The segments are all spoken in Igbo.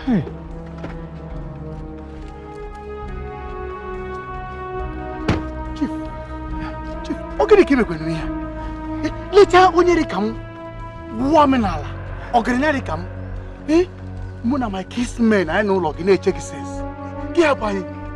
Hey. Chief, Chief, ọ gịnị ka imekwana ihe? Leta onye dị ka m, wụọ m n'ala, ọgaranya dị ka m. Mụ na my kinsmen anyị nọ n'ụlọ gị na-eche gị since. Gị abụ anyị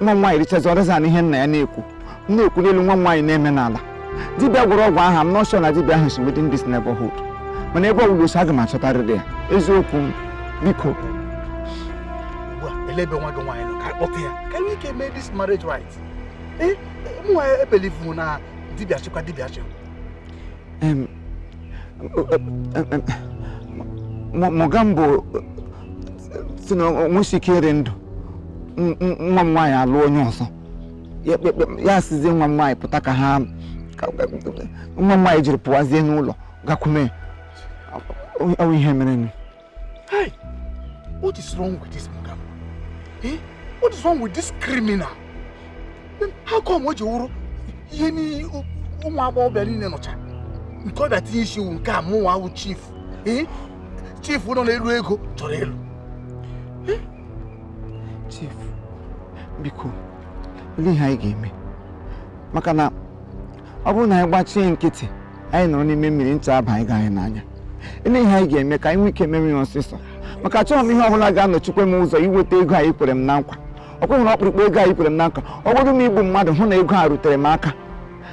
nwa m nwaanyị richazi ọ dịza na ihe nna ya na-ekwu m na-ekwu n'elu nwa m nwaanyị na-eme n'ala dibịa gwọrọ ọgwụ ahụ I'm not sure na dibịa ahụ si within this neighborhood mana ebe ọwụla o si aga m achọtarịrị ya eziokwu m biko ugbu a olee ebe nwa gị nwaanyị nọ ka anyị kpọta ya ka anyị nwee ike mee this marriage rite ee mụnwa ebelieve na dibịa chịkwa dibịa chịkwa em, em, em, em, mụ- Mugambo si na o nwesi ike ịrị ndụ nwa m nwaanyị alụ onye ọzọ ya sizie nwa m nwaanyị pụta ka ha nwa m nwaanyị jiri pụwazie n'ụlọ gakwume ọwụ ihe mere nụ What is wrong with this Mugambo? Eh? What is wrong with this criminal? how come o ji wụrụ ihe nị ụmụ agbọghọbịa niile nọcha nke ọ bịa tinye isi wụ nke a mụnwa wụ chifu chifu nọ n'elu ego chọrọ ịlụ chifu biko olee ihe anyị ga-eme maka na ọ bụrụ na anyị gbachie nkịtị anyị nọrọ n'ime mmiri ncha abanyega anyị n'anya olee ihe anyị ga-eme ka anyị nwee ike mewe ya ọsịsọ maka achọghị m ihe ọbụla ga-anọchikwa m ụzọ iweta ego anyị kwere m na nkwa ọ bụghị na ọkpụrụkpụ ego anyị kwere m na nkwa ọ bụrụ m igbu mmadụ hụ na ego a rutere m aka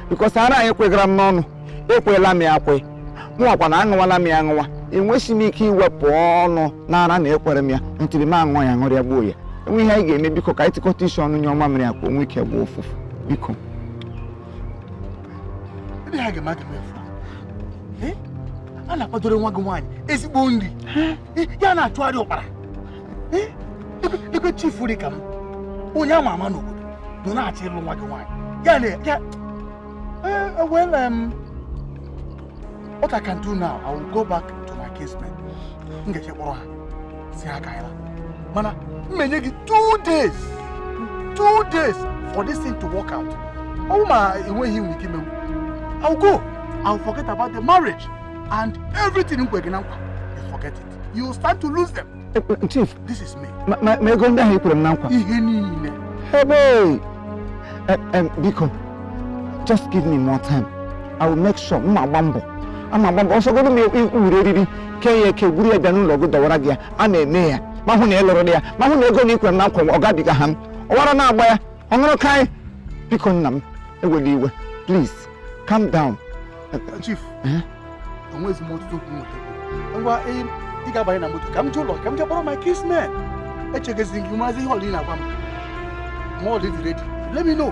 because ara anyị kwegara m n'ọnụ ekwela m ya ekwe mụwakwa na aṅụwala m ya aṅụwa enweghị m ike iwepụ ọnụ n'ara na ekwere m until m aṅụọ ya ṅụrịa gbuo ya e nwee ihe anyị ga-eme biko ka anyị tịkọta isi ọnụ nye ọma mere ya ka o nwee ike gbọọ ụfụfụ biko a na-akwadoro nwa gị nwaanyị ezigbo nri ya na-achụgharị ụkpara ebe chifu dị ka m onye ama ama n'obodo nọ na-achọ ịlụ nwa gị nwaanyị ya na well what I can do now I will go back to my kinsmen m ga-eje kpọrọ ha sị ha ka anyị laa mana m ma-enye gị two days two days for this thing to work out ọ ma enweghị ihe i nwere ike imenwu I will go I will forget about the marriage and everything m kwere gị na nkwa you forget it you stand to lose them eh, eh, chief this is me ma ego ndị ahụ i kwere m na nkwa hey, biko just give me more time i will make sure m ma-agba mbọ ọ sọgodu m iwere eriri kee ya eke buru ya bịa n'ụlọ gị dọwara gị ya a na-eme ya m ahụ na ị lụrụ ya m ahụ na ego na i kwere m na nkwa ọ gabigaha m ọ wụ ara na-agba ya ọ ṅụrụ kaịkaị biko nna m ewela iwe please calm down chief eh? enweghịzi m ọtụtụ okwu nwere ngwa ị ga-abanye na moto ka m jee ụlọ ka m jee kpọrọ my kinsmen echegezi gị maazị ihe ọlụ ị na-agwa m ma ị dị redi let me know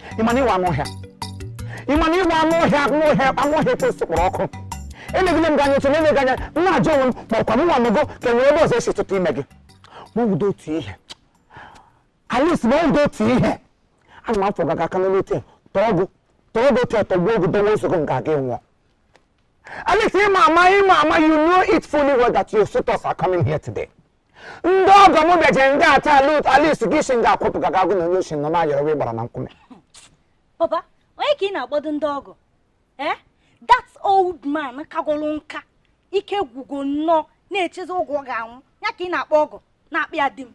ị ma na ị wụ anụ ọhịa ị ma na ị wụ anụ ọhịa anụ ọhịa anụ ọhịa ekwesị kpọrọ ọkụ elegide m gị anya otu m na-ele gị anya m na-ajụ onwe m ọ bụkwa m nwa mụ gị ka e nwere ebe ọzọ e si tụta ime gị ma ụdị otu ihe alis ma ụdị otu ihe ana m afọ gaga aka n'elu otu tọọ gụ tọọ gụ otu ọtọ gbuo gụ dọwa ozu gị m ga-aga ịnwụọ alis, ị ma, ị ma, ị ma, you know it fully well that your suitors are coming here today. ndị ọgọ m bịaje nga taa alut alis gị si nga akwụpụ gaga agụ na onye oshi nọ na-ayọrọ wee gbara na nkume papa onye ka ị na-akpọdo ndị ọgọ eh that old man kagoro nka ike gwugo nnọọ na-echezi oge ọ ga-anwụ ya ka ị na-akpọ ọgọ na-akpọ ya di m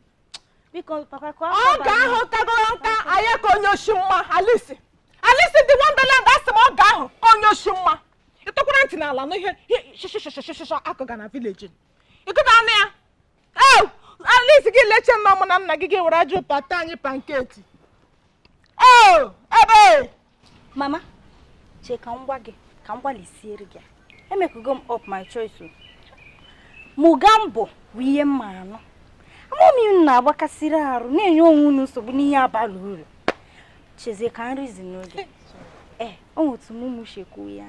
biko papa ka ọ ọga ahụ kagoro nka anyị ka onye oshi mma alisi alisi the wonderland asị m ọga ahụ ka onye oshi mma ị tọkwara ntị n'ala n'ihe e shi akọga na vileji ịkụta anụ ya ee alisi gị leche na mụ na nna gị ga-ewere ajọ ụtọ ata anyị pancake ee ebe mama chee ka m gwa gị ka m gwalisiere gị emekugo m up my choice mugambo bụ onye m ga-anụ amarọ m ihe unu na-agbakasịrị arụ na-enye onwe unu nsogbu n'ihe abaghị uru chezie ka m reason gị ee eh, o nwetu m ụmụ shekwu ya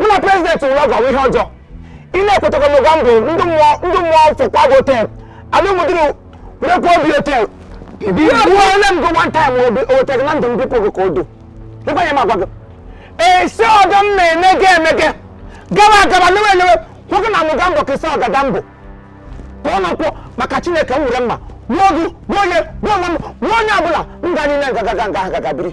nna prezidenti nwụrụ ọgọwa ihe ọjọọ ị na-ekwutara mugambo ndị mmụọ ndị mmụọ fụkwa gị otel alụmdịrị werekwa obi otel ruole m gị one time obi otel na ndụ m bipụ gị ka odo ịkwanye m agwa gị esi ọdọ m na-emege emege gawa agaba lewe elewe nwoke na mugambo ka ị sị ọgadambo ka ọ na-ekwu maka chineke m were mma gbuo gị gbuo onye gbuo onwe m gbuo onye ọbụla nga niile ngagaga nga agagabiri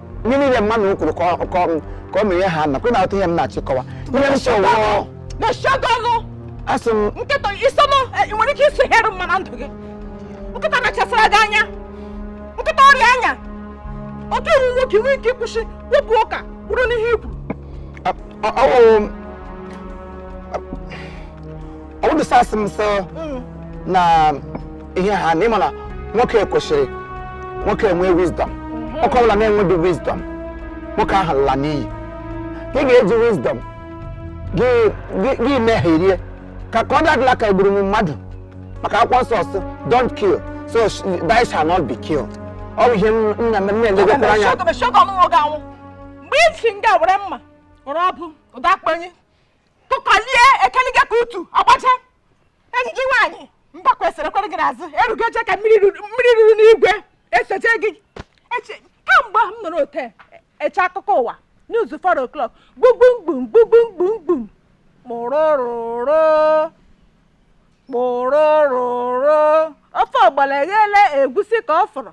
ihe niile mmadụ kwuru ka ọ- ka ọ- ka ọ mere ha nakwa na-atụ ihe m na-achịkọwa ihe m so wụọ mechigo ọnụ asị m nkịta isonụ e, ị nwere ike iso ihe rụ mma na ndụ gị nkịta rachasara gị anya nkịta ọrịa anya otu ị wụ nwoke nwee ike ịkwụsị wepụ ụka kwụrụ n'ihe i kwuru ọ- ọ- ọ wụ- ọ wụdịsa asị m sị na ihe ahụ na ị ma na nwoke kwesịrị nwoke enwee wisdom nwoke ọbụla na-enweghị wisdom nwoke ahụ lala n'iyi gị ga-eji wisdom gị gị- gị mehierie ka ka ọ dị adịla ka egburu m mmadụ maka akwụkwọ nsọ sị don't kill so sh- thou shall not be killed ọ bụ ihe m m na- m na-elegokwara anya achọghị m nwoke anwụ mgbe i si nga were mma were abụ ụda akpanye tụkọlie ekele gị ka utu agbacha enyi gị nwaanyị mba kwesịrị ekwere gị n'azụ erugo eche ka mmiri ruru n'igwe esoche gị kemgbe m nọrọ ote eche akụkọ ụwa news 4 o'clock gbugbugbum gbugbugbum kpụrụrụrụ kpụrụrụrụ ofe ọgbọlọ eghele egwusi ka ọ fọrọ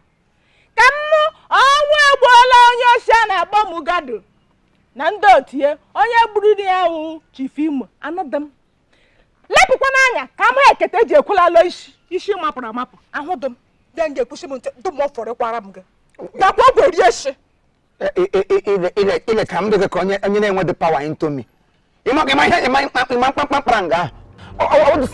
ka m nụ ọnwụ egbuola onye oshi a na-akpọ mugado na ndị otu ya onye gburu di ya wụ chief imo anụdị m lepụkwa n'anya ka m ha ekete ji ekwulala isi isi mapụrụ amapụ ahụdị m bịa m ga-ekwusi m ntị dụ m ọfọrịkwara m gị gakwa ogwe rie shi ile ka m dịghị ka onye onye na-enwe the power into me ịma ihe ịma mkpamkpa mkpara nga ahụ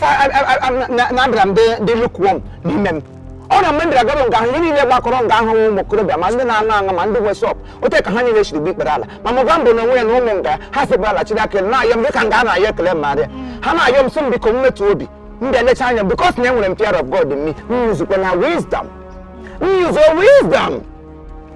na-abịara m dị lukewarm n'ime m ọ na mgbe m bịara gaba nga ahụ ihe niile gbakọrọ nga ahụ ụmụ okorobịa ma ndị na-aṅụ aṅụ ma ndị nwe shop ote ka ha niile chiri bụ ikpere ala ma mugambo na onwe ya na ụmụ nga ha sịbara ala chiri aka elu na-ayọ m dịka nga a na-ayọ ekele maria ha na-ayọ m sị m biko m metu obi m ga-elecha anya because na enwere m fear of God in me m yuzikwa na wisdom m yuzo wisdom